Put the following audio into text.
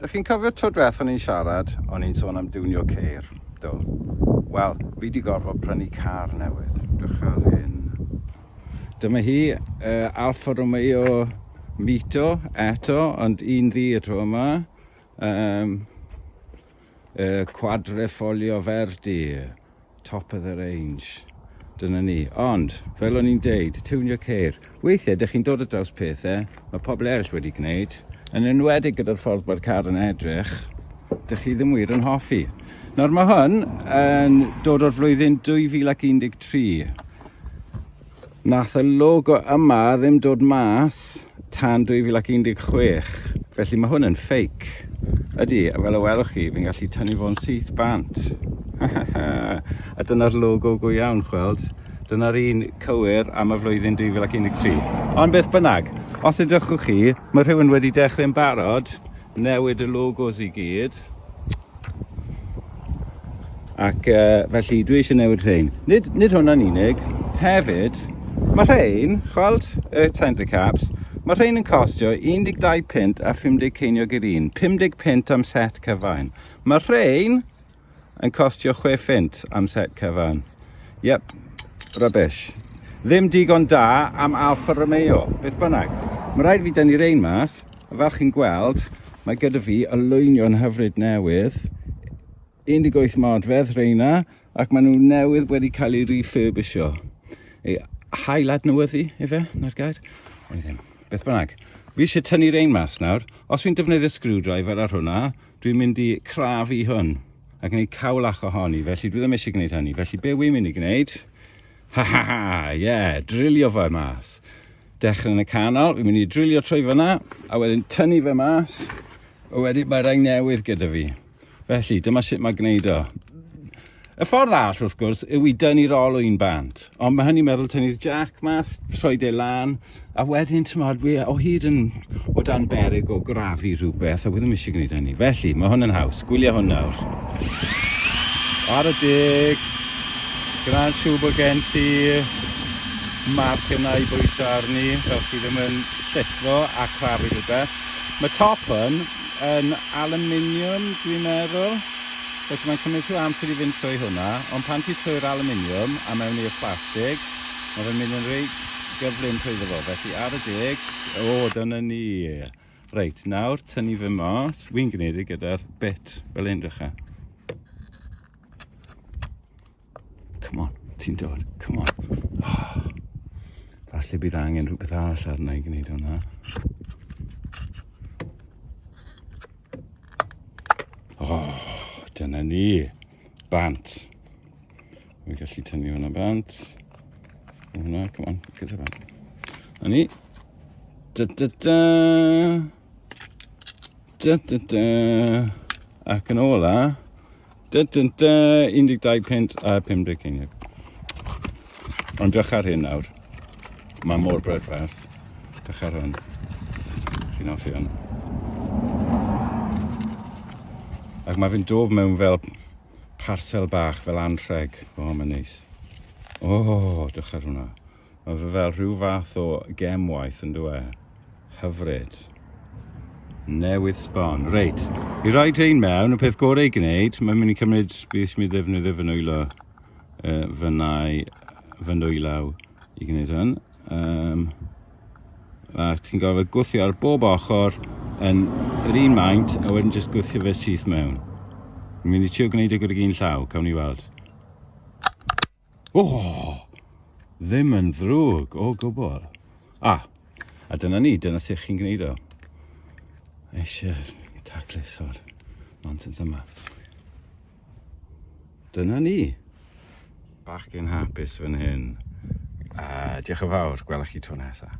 Da chi'n cofio tro diwethaf o'n i'n siarad, o'n i'n sôn am diwnio ceir, do. Wel, fi wedi gorfod prynu car newydd, dechrau'r hyn. Dyma hi, uh, Alfa Romeo Mito eto, ond un ddi y tro yma. Um, Y Quadrifoglio Verdi, top of the range. Dyna ni. Ond, fel o'n i'n deud, tiwnio ceir. Weithiau, dych chi'n dod o draws pethau, mae pobl eraill wedi gwneud, yn enwedig gyda'r ffordd mae'r car yn edrych, dych chi ddim wir yn hoffi. Nawr mae hwn yn dod o'r flwyddyn 2013. Nath y logo yma ddim dod mas tan 2016, felly mae hwn yn ffeic. Ydy, a fel y welwch chi, fi'n gallu tynnu fo'n syth bant. a dyna'r logo go iawn, chweld. Dyna'r un cywir am y flwyddyn 2013. Ond beth bynnag, os ydych chi, mae rhywun wedi dechrau'n barod, Newid y logos i gyd. Ac uh, felly dwi eisiau newid rhain. Nid, nid hwnna'n unig, hefyd, mae rhain, chweld y centre caps, mae rhain yn costio 12 pint a 50 ceiniog i'r un, 50 pint am set cyfain. Mae rhain yn costio chwe ffint am set cyfan. Yep, rubbish. Ddim digon da am Alfa Romeo, beth bynnag. Mae rhaid fi dynnu rein mas, a fel chi'n gweld, mae gyda fi olwynion hyfryd newydd, 18 modfedd reina, ac maen nhw newydd wedi cael eu refurbisho. Ei hail adnewyddu, efe, na'r gair? Beth bynnag. Fi eisiau tynnu rein mas nawr. Os fi'n defnyddio screwdriver ar hwnna, Dwi'n mynd i craf i hwn a gwneud cawlach ohoni, felly dwi ddim eisiau gwneud hynny. Felly be wy'n mynd i gwneud? Ha ha ha, ie, yeah, drilio fe mas. Dechrau yn y canol, fi'n mynd i drilio trwy fyna, a wedyn tynnu fe mas, a wedyn mae rhain newydd gyda fi. Felly, dyma sut mae gwneud o. Y ffordd all, wrth gwrs, yw i dynnu'r olwyn bant. Ond mae hynny'n meddwl tynnu'r jac mas, rhoi de lan, a wedyn, ti'n modd, fi o hyd yn o dan berig o grafu rhywbeth, a wedi eisiau gwneud hynny. Felly, mae hwn yn haws. Gwylia hwn nawr. Ar y dig, gyda'n siw bod gen ti marc yna i bwyso arni, fel ti ddim yn llithro a crafu rhywbeth. Mae top hwn yn aluminium, dwi'n meddwl. Felly mae'n cymryd rhyw amser i fynd trwy hwnna, ond pan ti'n trwy'r alwminiwm a mewn i'r plastig, mae fe'n mynd yn reit gyflym trwyddo fo, felly ar y deg. O, dyna ni. Reit, nawr tynnu fe mas. Wi'n gwneud e gyda'r bit fel hyn, dechrau. Come on, ti'n dod, come on. Oh. Falle bydd angen rhywbeth arall arna i gwneud hwnna. Oh, dyna ni. Bant. Mi'n gallu tynnu hwnna bant. Hwnna, come on, gyda bant. A ni. Da da da. Da, da, da. Ac yn ola, da, da, da, 12 pint a 50 ceiniog. Ond dych ar hyn nawr. Mae mor brydferth. Dych ar hwn. Chi'n offi hwn. Ac mae fi'n dof mewn fel parsel bach, fel anrheg. O, oh, mae'n neis. O, oh, dych ar hwnna. Mae fe fel rhyw fath o gemwaith yn dwe. Hyfryd. Newydd sbon. Reit, i rhaid ein mewn, y peth gorau i gwneud, mae'n mynd i cymryd, beth mi ddefnyddio fy nwylo, uh, fy nau, fy nwylaw i gwneud hyn. Um, a ti'n gofod gwthio ar bob ochr yn yr un maint a wedyn jyst gwthio fe syth mewn. Mi'n mynd i trio gwneud y gwrdd un llaw, cawn ni weld. O! Ddim yn ddrwg o gwbl. A, a dyna ni, dyna sut chi'n gwneud o. Eisiau taclus o'r nonsense yma. Dyna ni. Bach yn hapus fan hyn. A diolch yn fawr, gwelwch chi tro nesaf.